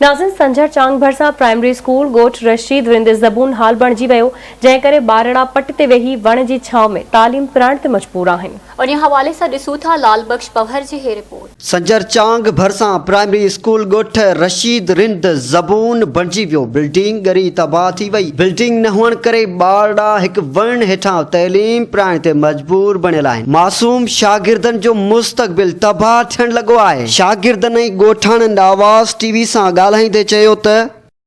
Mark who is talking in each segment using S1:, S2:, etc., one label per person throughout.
S1: ناظم سنجهر چانگ ڀرسان primary school ڳوٺ رشيد رند زبون حال بڻجي ويو، جنهن ڪري ٻارڙا پٽ تي ويهي وڻ جي ڇانو ۾ تعليم پرائڻ تي مجبور آهن. انهيء حوالي سان ڏسون
S2: ٿا لعل بخش پنهور جي هي رپورٽ. سنجهر چانگ
S3: ڀرسان پرائمري اسڪول ڳوٺ رشيد رند زبون بڻجي ويو، بلڊنگ ڳري تباهه ٿي وئي، بلڊنگ نه هئڻ ڪري ٻارڙا هڪ وڻ هيٺان تعليم پرائڻ تي مجبور بڻيل آهن، معصوم شاگردن جو مستقبل تباهه ٿيڻ لڳو آهي. شاگردن ۽ ڳوٺاڻن آواز ٽي وي سان ڳالهائيندي چيو ته.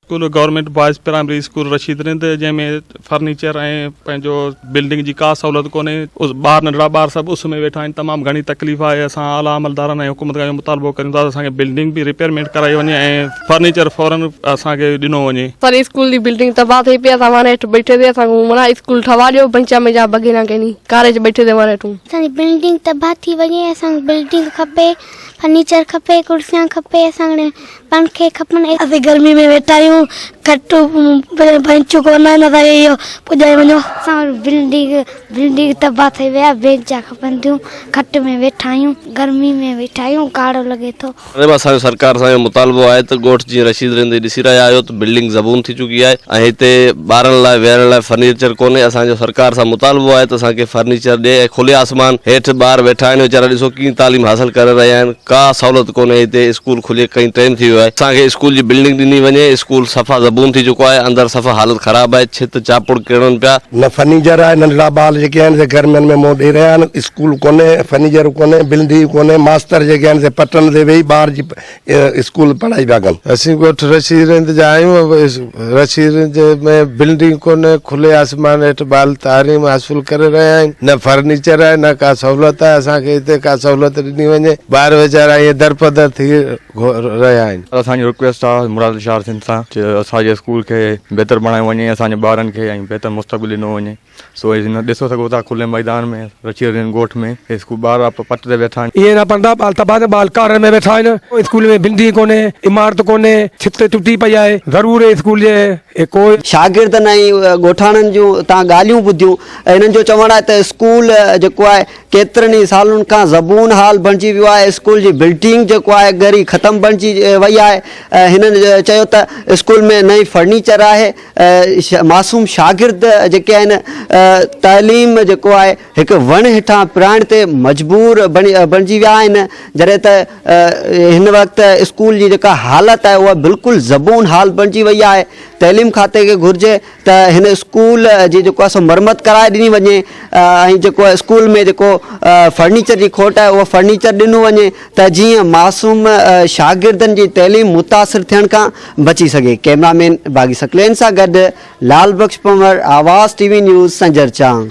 S3: School government
S4: boys primary school Rasheed Rind جنهن ۾ فرنيچر ۽ پنهنجو بلڊنگ جي ڪا سهولت ڪونهي ٻار ننڍڙا ٻار سڀ اس ۾ ويٺا آهن تمام گهڻي تڪليف آهي اسان اعليٰ عملدارن ۽ حڪومت کان اهو مطالبو ڪريون ٿا ته اسان کي بلڊنگ به رپيئرمينٽ ڪرائي وڃي ۽ فرنيچر فورن اسان کي ڏنو وڃي. سر اسڪول جي بلڊنگ
S5: تباھ ٿئي پئي اسان وڻ ھيٺ بيٺي تي اسان کي وڻا اسڪول ٺھوا ڏيو بنچ ۾ جا بگينا ڪيني ڪاري جي بيٺي تي وڻ ھيٺ ھون. اسان جي بلڊنگ تباھ
S6: ٿي وڃي اسان کي بلڊنگ کپي فرنيچر کپي ڪرسيان کپي اسان کي پنکي کپن. اسين گرمي ۾ ويٺا آھيون کٽ بينچون ڪون آھن اسان کي اھو پڄائي وڃو. اسان وٽ بلڊنگ بلڊنگ تباھ ٿئي وئي آھي بينچا کپن ٿيون کٽ ۾ ويٺا آھيون گرمي ۾ ويٺا آھيون ڪاڙھو لڳي ٿو. ادي اسان جو سرڪار سان
S7: اهو مطالبو آهي ته ڳوٺ جيئن رشيد رهندي ڏسي رهيا آهيو ته بلڊنگ زبون ٿي چڪي آهي ۽ هتي ٻارن لاء ويهڻ لاء فرنيچر ڪونهي اسان جو سرڪار سان مطالبو آهي ته اسان کي فرنيچر ڏي ۽ کلي آسمان هيٺ ٻار ويٺا آهن ويچارا ڏسو ڪيئن تعليم حاصل ڪري رهيا آهن ڪا سهولت ڪونهي هتي اسڪول کلي ڪئين ٽيم ٿي ويو آهي اسان کي اسڪول جي بلڊنگ ڏني وڃي اسڪول صفا زبون ٿي چڪو آهي اندر صفا حالت خراب آهي ڇت چاپڙ ڪرڻ پيا نه فرنيچر آهي
S8: ننڍڙا ٻار جيڪي آهن سي گرمين ۾ منهن ڏئي رهيا آهن اسڪول ڪونهي، فرنيچر ڪونهي، بلدي ڪونهي، ماستر جيڪي آهن سي پٽن تي ويهي ٻار جي اسڪول پڙهائي پيا ڪن. اسين ڳوٺ رشيد
S9: رند جا آهيون، رشيد رند ۾ بلدي ڪونهي، کلي آسمان هيٺ ٻال تعليم حاصل ڪري رهيا آهن، نه فرنيچر آهي نه ڪا سهولت آهي، اسان کي هتي ڪا سهولت ڏني وڃي، ٻار ويچارا ائين درپدر ٿي رهيا آهن. اسان جي رڪويسٽ آ
S10: مراد الشار سنڌ سان ته اسان جي اسڪول کي بهتر بڻايو وڃي، اسان جي ٻارن کي ۽ بهتر مستقبل ڏنو وڃي. سو هي جن ڏسو سگهو ٿا کلي ميدان ۾، رچي رين ڳوٺ ۾، هي اسڪول ٻار آپا پٽ تي ويٺا آهن. اهي نه پڙهندا ٻال تباهه نه
S11: ٻال ڪارڻ ۾ ويٺا آهن. اسڪول ۾ بلڊنگ ڪونهي، عمارت ڪونهي، ڇت ٽٽي پئي آهي، ضرور هي اسڪول جي هي ڪو. شاگردن ۽
S3: ڳوٺاڻن جون اتان ڳالهيون ٻڌيون. هنن جو چوڻ آهي ته اسڪول جيڪو آهي ڪيترن ئي سالن کان زبون حال بڻجي ويو آهي، اسڪول جي بلڊنگ جيڪو آهي ڳري ختم بڻجي وئي آهي. هنن چيو ته اسڪول ۾ نه ئي فرنيچر آهي. معصوم شاگرد جيڪي آهن تعليم جيڪو آهي هڪ وڻ هيٺان پرائڻ تي مجبور بڻجي ويا آهن جڏهن ته هن وقت اسڪول جي جيڪا حالت آهي اها بلڪل زبون حال بڻجي وئي آهي تعليم کاتي کي گهرجي ته هن اسڪول جي جيڪو آهي سو مرمت ڪرائي ڏني وڃي ۽ جيڪو آهي اسڪول ۾ جيڪو فرنيچر جي کوٽ آهي اهو فرنيچر ڏنو وڃي ته جيئن معصوم شاگردن جي تعليم متاثر ٿيڻ کان بچي سگهي، ڪئميرا مين باغي ثقلين سان گڏ لعل Bakhsh Panhwar, Awaz T V news, Sanjar Chang.